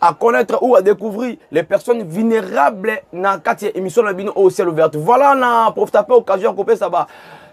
à connaître ou à découvrir les personnes vulnérables na kati ya émission na bino au ciel ouvert voilà na profita mpe occasion ya kopesa ba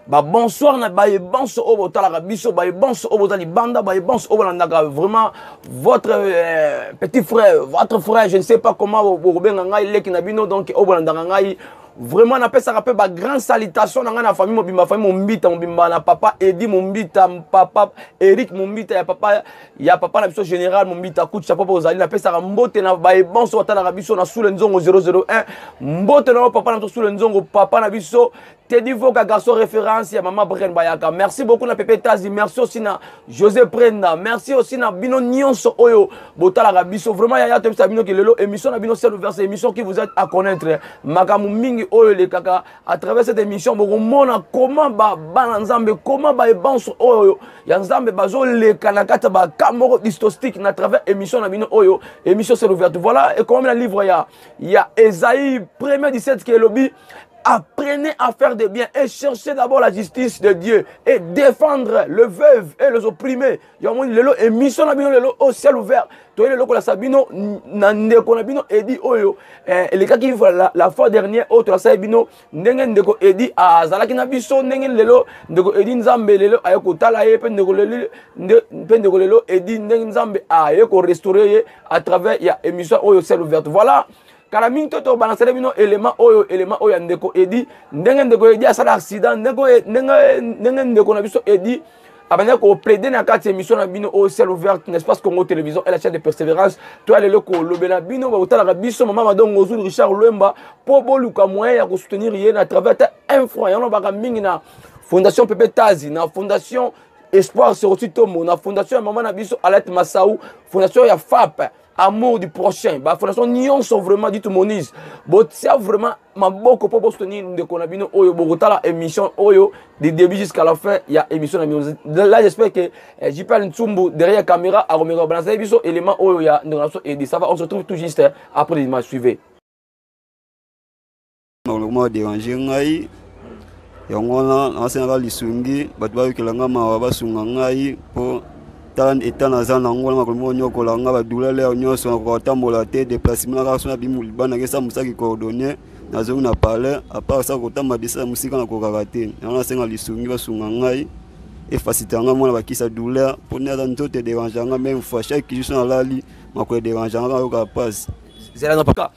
babonsoir na baye banso oyo botalaka biso baye banso oyo boza libanda baye banso oyo bolandaka vraiment votre euh, petit frère votre frère je ne sais pas comment bokobenga ngai leki na bino donc oyo bolandaka ngai vraiment napesaka mpe bagrande salitation na ngai na famille mobimba famille mombita mobimba na papa edi mombita papa eric mombita ya papa ya papa na biso général mombita kutu chapeau mpo ozali napesaka mbote na baye banso batalaka biso na sule nzongo 001 mbote na yo papa na biso sule nzongo papa na biso tedi voka garçon référence ya mama bren bayaka merci beaucoup na pepe tazi merci aussi na josé prenda merci aussi na bino nyonso oyo botalaka biso vraiment yaya toyebisa bino ke lelo émission na bino sel ouvert émission qui vous êtes à connaître makambo mingi oyo elekaka à travers cette émission bokomona comment bana nzambe comment baebanse oyo ya nzambe bazoleka na kati ya baka moko distostique na travers émission na bino oyo émission c'est ouverte voilà ekomami na livre ya ya esaïe premier 17 qui elobi apprenez à faire des biens et cherchez d'abord la justice de Dieu et défendre le veuve et les opprimés yango moni lelo émission na bino lelo oyo ciel ouvert toye lelo kolakisa bino na ndeko na bino edi oyo eh, elekaki la, la fois dernière oyo tolasaki bino ndenge ndeko edi azalaki na biso ndenge lelo ndeko edi nzambe lelo aye kotala ye mpe ndeko lelo mpe ndeko lelo edi ndenge nzambe aye korestaure ye à travers ya émission oyo ciel ouverte voilà kala mingi to tobalansele bino elema oyo elema oyo ya ndeko edi ndenge ndeko edi asala accident ndenge, ndenge, ndenge ndeko na biso edi abandaki koplaide na kati ya émission na bino oyo ciel ouverte na espace congo télévision et la chaîne de persévérance toya lelo kolobela bino bakotalaka biso mama madongo ozul richard lwemba mpo boluka moyen ya kosoutenir ye na travers ata un franc yango nabaka mingi na fondation pepe tazi na fondation espoir seroti tombo na fondation ya mama na biso alete masau fondation ya fape amour du prochain bafondation nyonso vraiment ditu monise botia vraiment maboko mpo bosoutenir ndeko na bino oyo bokotala émission oyo de début jusqu'à la fin ya émission na bino là j'espère que eh, jpl ntsumbu derrière caméra akomeka kobalansa biso élément oyo ya ndeko na biso edi ça va on se trouve tout juste eh, après les images suivez nakoma derange ngai yango wana nasengaka lisungi bato bayokela ngai mawa basunga ngai mpo tala eta naza nango na makolo moko nyokola ngai badulele yao nyonso nakoka kotambola te deplacement kaka so nabimi libana nakesa mosaki coordonne nazongi na palais apart sa kotamba desa ya mosika nakokaka te yango nasenga lisungi basunga ngai efasite yanga mwana bakisa douleur mpo nde aza nzoto ederange yanga meme fois chaque jour so nalali makolo ederange yanga kaka yoka pasi zela na paka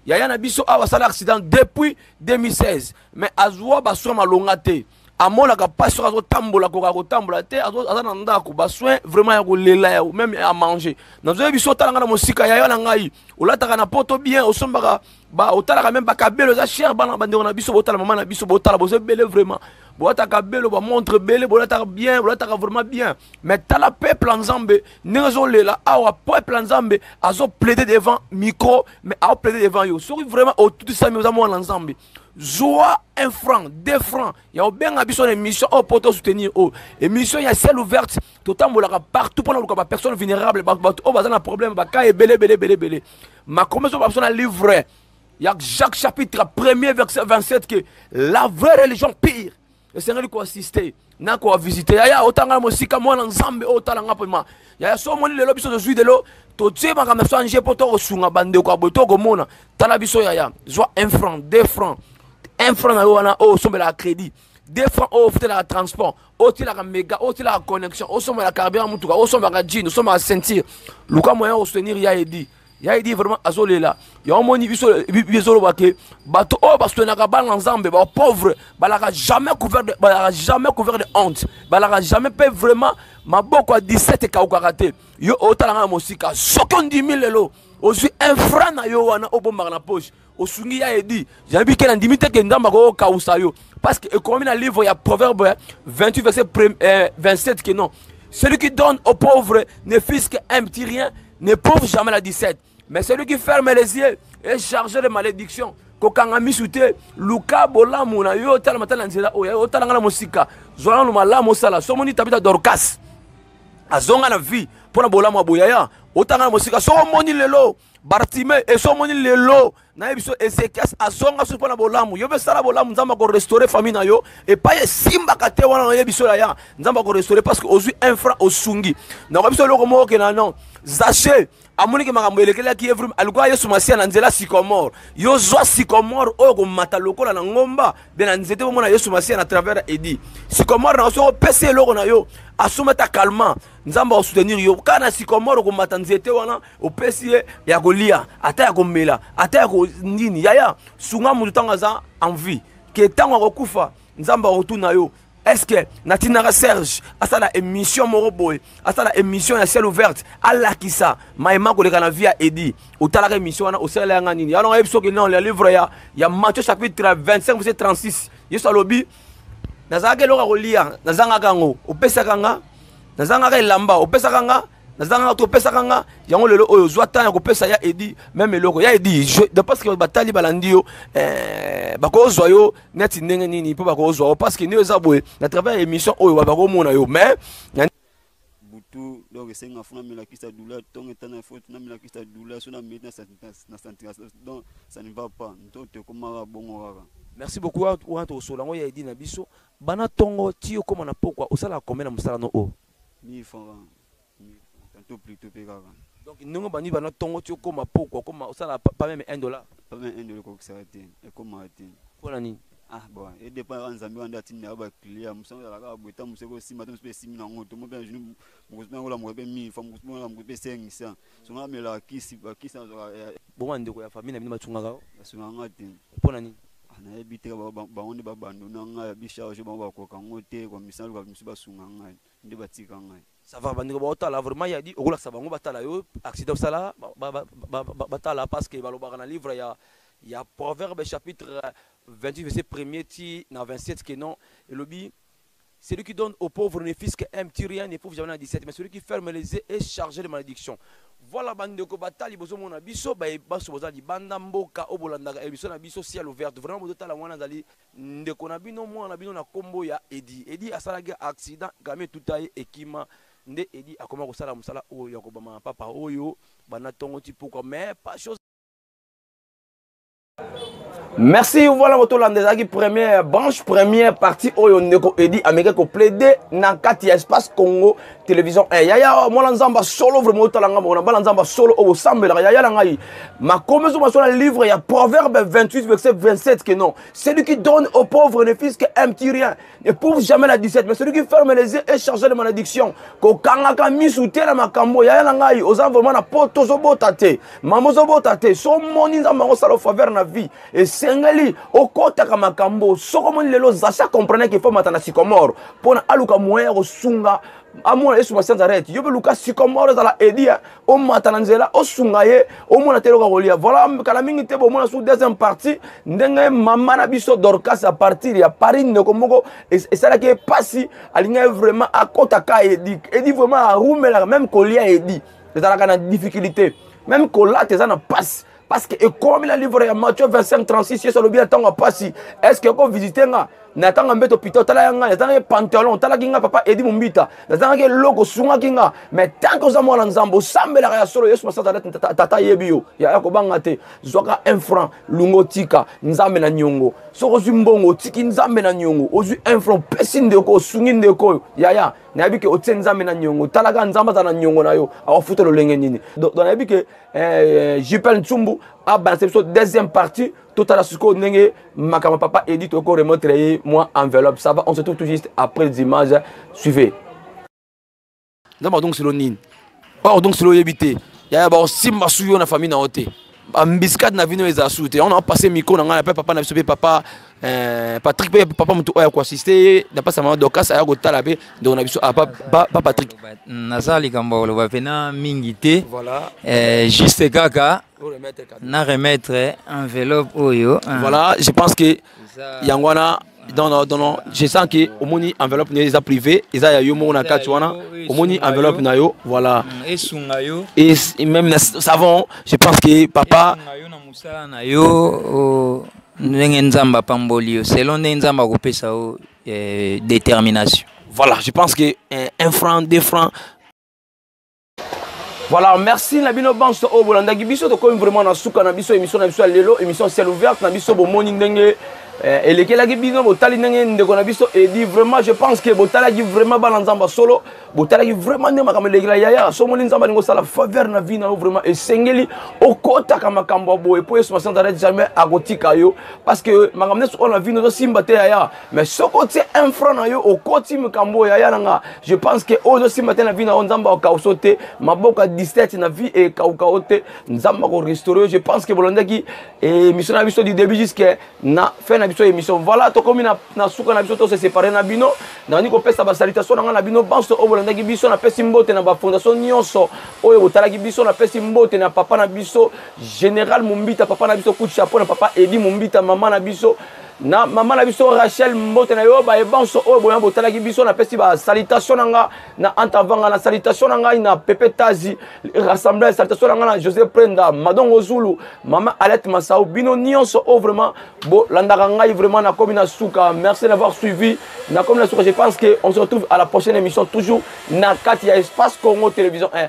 yaya na biso awa asala accident depuis 2016 mais azwa basoin malonga te amonaka mpasi soki azotambola koka kotambola te aza na ndako basoin vraiment ya kolela ya meme ya manger nazoye biso otala ngai na mosika yaya na ngai olataka na poto bien osombaka ba otalaka meme bakabelo eza cher bana bandeko na biso botala mama na biso botala boza ebele vraiment bolataka belo bamontre ebele bolataka bien bolataka vraiment bien mais tala peuple ya nzambe ndenge azolela awa peuple ya nzambe azoplaide devant micro mais aoplaide devant yo soki vraiment otutisami oza mwana nzambe zwa un franc deux franc ya obenga biso na émission oyo mpo tosoutenir oyo émission ya ciel ouverte totambolaka partout mpo na luka bapersonne vulnérable bato oyo baza na problème baka ebele ebele ebele ebele makomi ezoba biso na livre ya jacques chapitre 1er verset 27 ke la vraie religion pire esengeli koassiste na koavisite yaya otanga na mosika mwana nzambe oyo otala nga mpema yaya so omoni lelo biso tozwi lelo totie makambo ya biso ange mpo tokosunga bandeko ya boye tokomona tala biso yaya zwa 1 franc 2 franc 1 franc na yo wana oyo osombelaka crédit 2 franc oyo ofutelaka transport otielaka mega otielaka connexion osombelaka carburant motuka osombaka jean osombaka ceinture luka moyen osoutenir ya edi ya edi vraiment azolela yango omoni biso bizoloba ke bato oyo baswenaka bana nzambe bapauvre balaka jamais couvert de, balaka jamais couvert de honte balaka jamais mpe vraiment maboko ya 17 ekaukaka te yo otalanga na mosika soki ondimi lelo ozwi infra na yo wana obombaka na poche osungi ya edi yabi ke nandimi te ke nzambe akoki kokausa yo parce que ekomami na livre ya proverbe 28 verset 27 eh, ke non celui qui donne aux pauvres ne fils qu'un petit rien ne pauvre jamais la 17 mais celui qui ferme les yeux est chargé de malédiction kokanga misu te luka bolamu na yo otala matala na nzela oyo otala ngai na mosika zwa nano malamu osala so omoni tabita dorcas azonga na vie mpo na bolamu ya boyaya otanga na mosika so omoni lelo bartime eso omoni lelo naye biso ezekias azonga soki mpo na bolamu yo mpe sala bolamu nzambe akorestaure famille na yo epai esimbaka te wana naye biso yaya nzambe akorestaure parce que ozwi un franc osungi nakoya biso eloko moko okena non zache amoniki makambo elekelaki ye vrime alukaka yesu masiya na nzela sycomore yo zwa sycomore oyo komata lokola na ngomba de na nzete bomona yesu masiya na travers ya edi sycomore na soki opesi eloko na yo asomba ta calma nzambe akosoutenir yo kaka na sycomore okomata nzete wana opesi ye ya kolia ata ya komela ata ya nini yaya sunga moto ntango aza envie ke ntango akokufa nzambe akotuna yo estce natinaka serge asala émission moko boye asala émission ya ciel ouverte alakisa mayema koleka na vie ya edi otalaka émission wana osalela yanga nini yango ayebi soki non ya livre ya, ya matthieu chapitre 25 vse 36 yesu alobi nazalaka eloko ya kolia nazangaka yango opesaka nga nazangaka elamba opesaka nga naza kaka topesaka nga yango lelo oyo ozwa temps ya kopesa ya edi meme eloko ya edi de parce que batali balandi yo eh, bakozwa yo neti ndenge nini mpo bakozwa yo parce que nio eza boye na travers ya émission oyo bakomona yo mais butu donc esenga fo namelakisa douleur ntongo etana fo namelakisa douleur so nameli na santira donc ça ne va pas ntoto ekomaka bongo kaka merci beaucoup wana tokosola yango ya edi na biso bana ntongo ti okóma na pokwa osalaka kombe na mosala no oyo 1000 francs kaka 1000 francs tantôt plus tôt pe kaka donc ndenge obandi bana ntongo ti okoma poko okoma osala pa pa meme 1 dollar pa meme 1 dollar ekokisaka te ekomaka te mpo na nini ah bon edépend kaka nzambe wana nde atindi naka bacliya mosu yango ezalaka boye ntango mosu ekosimba te mosu mpe esimbi na yango to mo mpe na jour mokosi mpe nakolamuka mpe 1000 francs mokosi mpe nakolamuka mpe 500 Sunga na mela kisi, ba kisi na zoka. Eh, eh. Bongo ba ndeko ya famille na bino ba tungaka yo? Ba sunga nga te. Pona nini? Ah, na yebi te ba ba ngonde ba bando na nga ya bi charge ba ba koka ngo te ko misala ka misu ba sunga nga nde ba tika nga. Ça va ba ndeko ba otala vraiment ya di okola sa bango ba tala yo accident sala ba ba ba ba tala parce que ba lobaka na livre ya ya proverbe chapitre 28 verset 1er ti na 27 que non elobi Celui qui donne aux pauvres ne fils qu'un petit rien ne prouve jamais na 17 mais celui qui ferme les yeux est chargé de malédiction. Voilà bandeko batali bozo mona biso ba baso boza libanda mboka obolandaka emission na biso ciel ouverte vraiment bozo tala mwana zali ndeko na bino mwana na bino na kombo ya Edi Edi asalaki accident kami etuta ye ekima nde Edi akoma kosala mosala oyo ya kobama papa oyo bana tongo ti pokwa mais pas chose merci voilà kotolanda ezalaki première branche première partie oyo ndeko edi ameki koplaide na kati ya espace congo télévision 1 yaya oh, mwana nzambe solo vraimen otala ngai mokona bana nzambe solo oyo osambelaka yaya na ngai makomi ezo masolo na livre ya proverbe 28 verset 27 que non celui qui donne au pauvre ne fils que un petit rien ne prouve jamais la 17 mais celui qui ferme les yeux est chargé de malédiction kokangaka misu te na makambo yaya na ngai oza vraiment na poto ozobota te mama ozobota te so omoni nzambe yango osala ofaveur na vie esengeli okotaka makambo soki omoni lelo zacha comprenait qu'il faut mata na sycomore mpo na aluka moyen ya kosunga amona yesu masianza ret yo mpe luka sycomore ezala edi omata na nzela osunga ye omona te eloko ya kolia voilà kala mingi te bomona su deuxième partie ndenge mama na biso dorcas a partir ya paris ndeko moko esalaki ye mpasi alingaki vraiment akota ka edi edi vraiment arumelaka même kolia edi ezalaka na difficulté même kolata eza na mpasi parce que ekomi na livre ya matthieu 25 36 yesu alobi na ntango ya mpasi est ce que okovisite nga na tanga mbeto pita otala ya ngai nazangaki pantalon otalaki ngai papa edi mombita nazangaki eloko osungaki nga mais tanke oza mwana nzambe osambelaka ya solo yesu masasa neti tata ayebi yo yaya kobanga te zwaka un franc lunga otika nzambe na niongo soki ozwi mbongo otiki nzambe na niongo ozwi un franc opesi ndeko osungi ndeko oyo yaya nayebi ke otie nzambe na niongo talaka nzambe aza na niongo na yo akofuta lolenge nini donc nayebi ke eh, jpl nsumbu abalase biso deuxième partie totala sikoyo ndenge makambo papa edi toyoko remontre ye mwa enveloppe ça va on se trouve tout juste après les images suivez nzambe adongi silo nini oyo odongi silo oyebi te yaya baosimba su yo na famille na yo te bambiskade na bino ezala su te yango na opasse micro na ngai na mpe papa na biso mpe papa Euh, Patrick pe papa mutu oya ko assister na pasa mama Dorcas aya ko tala pe donc na biso ah, pa, pa, pa Patrick naza likambo ya koloba pena mingi te voilà. euh, juste kaka na remettre enveloppe oyo hein. voilà je pense que yango wana non non non non je sens que omoni enveloppe nayo eza privé eza ya yo moko na kati wana omoni enveloppe na yo voilà mm, esunga yo et même na savon je pense que papa esunga yo na musala na yo oh. ndenge nzambe apamboli yo selon ndenge nzambe akopesa yo eh, détermination voilà je pense que eh, un franc deux francs voilà merci na bino banso oyo oh, bolandaki biso tokomi vraiment na suka na biso émission na biso ya lelo émission ciel ouverte na biso bomoni ndenge eh, elekelaki bino botali ndenge ndeko na biso edi vraiment je pense que botalaki vraiment bana nzambe solo botalaki vraiment nde makambo elekela yaya so omoni nzambe alingi osala faveur na vie na yo vraiment esengeli okotaka makambo ya boye mpo yesu masiya nzalaki jamais akotika yo parce que makambo nyonso oyo na vie ozosimba te yaya mais soki otie un franc na yo okoti makambo oyo yaya na nga je pense que oyo ozosimba te na vie na yo nzambe akausa yo te maboko ya 17 na vie ekauka yo te nzambe akorestore yo je pense que bolandaki eh, émission na biso du début jusque na fin na biso émission voilà tokomi na, na suka na biso tose séparé na bino nani kopesa basalitation na ngai na bino banso oyo bolandaki biso napesi mbote na bafondation nyonso oyo botalaki biso napesi mbote na papa na biso général mombita papa na biso coup de chapeau na papa edi mombita mama na biso na mama na biso rachel mbote na yo baye banso oyo boya botalaki biso napesi basalitation na ngai na anta vanga na salutation na ngai na pepe tazi rassemblage salutation na ngai na josé prenda madongo zulu mama alete masau bino nyonso oyo oh, vraiment bolandaka ngai vraiment nakomi na suka merci d'avoir suivi nakomi na suka je pense que on se retrouve à la prochaine émission toujours na kati ya espace congo télévision 1